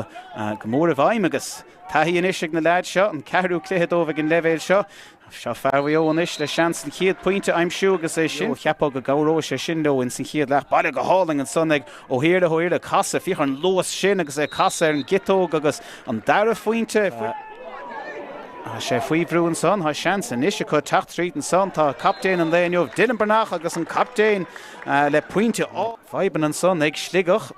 go mór i bhfeidhm agus taithí anois ag na leaids seo, an ceathrú cluiche dóibh ag an leibhéal seo. Seo fear Mhaigh Eo anois le seans an chéad pointe a aimsiú agus é sin, cheapfá go gcabhróidh sé sin leo ins an chéad leath. Bailithe go hálainn ansan ag Ó hIarlaithe, Ó hIarlaithe ag casadh, féach ar an luas sin agus é ag casadh ar an gciotóg agus an dara phointe faighte. Tá sé faoi bhrú ansan, tá seans anois acu teacht tríd ansan, tá captaen an lae inniu, Dylan Breathnach agus an captaen le pointe á. Fadhbanna ansan ag Sligeach.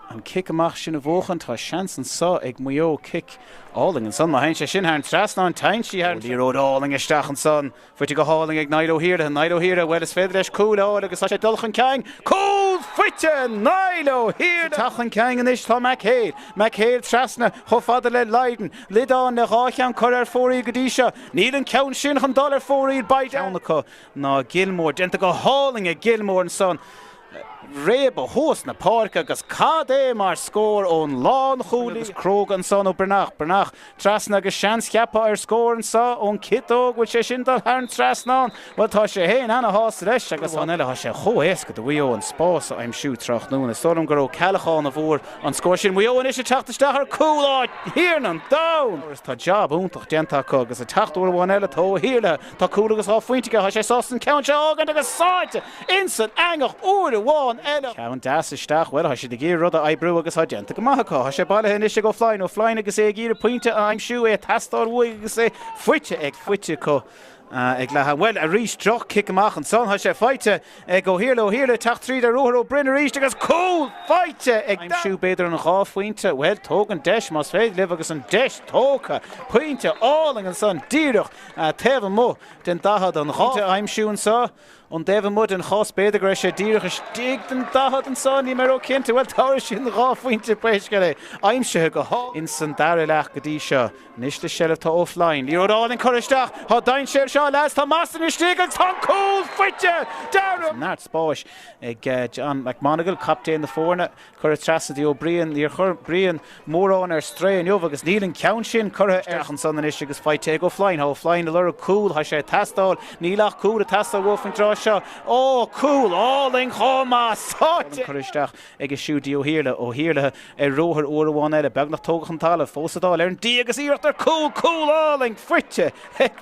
An cic amach sin a bhuachan, tá seans anso ag Maigh Eo cic álainn ansan. Má théann sé sin thar an trasnán, téann sí thar an trasnán. Liathróid álainn isteach ansan. Faighte go hálainn ag Niall Ó hIarlaithe. Niall Ó hIarlaithe, bhuel is féidir leis cúl a fháil agus tá sé ag dul chun cinn. Cúl faighte Niall Ó hIarlaithe! Ag teacht chun cinn anois tá Mac Héil. Mac Héil trasna chomh fada le Lydon. Lydon le dhá cheann cur ar fóraoil go dtí seo. Níl an ceann sin chun dul ar fóraoil. Beidh ceann acu ná Gilmore. Déanta go hálainn ag Gilmore ansan. réabadh thuas na páirce agus cad é mar scór ón lánchúlaí agus cróga ansan ó Breathnach, Breathnach trasna agus seans cheapfá ar scór anso ón ciotóg, bhfuil sé sin ag dul thar an trasnán, bhuel tá sé fhéin ana-shásta leis agus amháin eile tá sé chomh éasca do Mhaigh Eo an spás a aimsiú tráthnóna, is dóigh liom gur Ó Ceallacháin a bhfuair an scór sin, Maigh Eo anois ag teacht isteach ar cúl, a Thiarna an domhain! Tá jab iontach déanta acu agus ag teacht uair amháin eile tá Ó hIarlaithe. Tá cúl agus dhá phointe aige. Tá sé sásta an ceann seo a fhágaint agus sáite insan eangach uair amháin eile. Ceann deas isteach. Bhuel, tá siad ag iarraidh rud a oibriú agus tá déanta go maith acu. Tá sé bailithe anois ag Ó Floinn. Ó Floinn agus é ag iarraidh pointe a aimsiú, é ag teastáil uaidh agus é faighte ag faighte acu ag leath am. Bhuel, arís droch-chic amach ansan. Tá sé faighte. Ag Ó hIarlaithe, Ó hIarlaithe ag teacht tríd ar ruathar Ó Broin arís agus cúl faighte ag aimsiú b'fhéidir an dhá phointe? Bhuel, tóg an deis más féidir libh agus an deis tógtha, pointe álainn ansan díreach taobh amuigh den daichead, an dhá phointe a aimsiú anso ón dtaobh amuigh den chás b'fhéidir go raibh sé díreach istigh den daichead anso, níl mé róchinnte, bhuel, tabharfaidh siad an dhá phointe, pé scéal é, aimsithe go hálainn san dara leath go dtí seo. Anois le seilbh tá Ó Floinn. Liathróid álainn curtha isteach. Tá dainséar anseo leaids. Tá Masterton istigh agus tá an cúl faighte! Dearadh. Neart spáis ag John McMonagle, captaen na foirne. Curtha trasna go dtí Ó Briain. Níor chuir Brian mórán ar strae inniu agus níl an ceann sin curtha isteach ansan anois agus faighte ag Ó Floinn. Tá Ó Floinn ag lorg cúl. Tá sé ag teastáil. Níl ach cúl ag teastáil uaidh faoin dtráth seo. Ó! Cúl álainn chomh maith. Sáite! Curtha isteach. aige siúd go dtí Ó hIarlaithe, Ó hIarlaithe ar ruathar uair amháin eile, beagnach tógtha chun talamh, fós sa dáil ar an D agus iarracht ar chúl, cúl álainn faighte ag.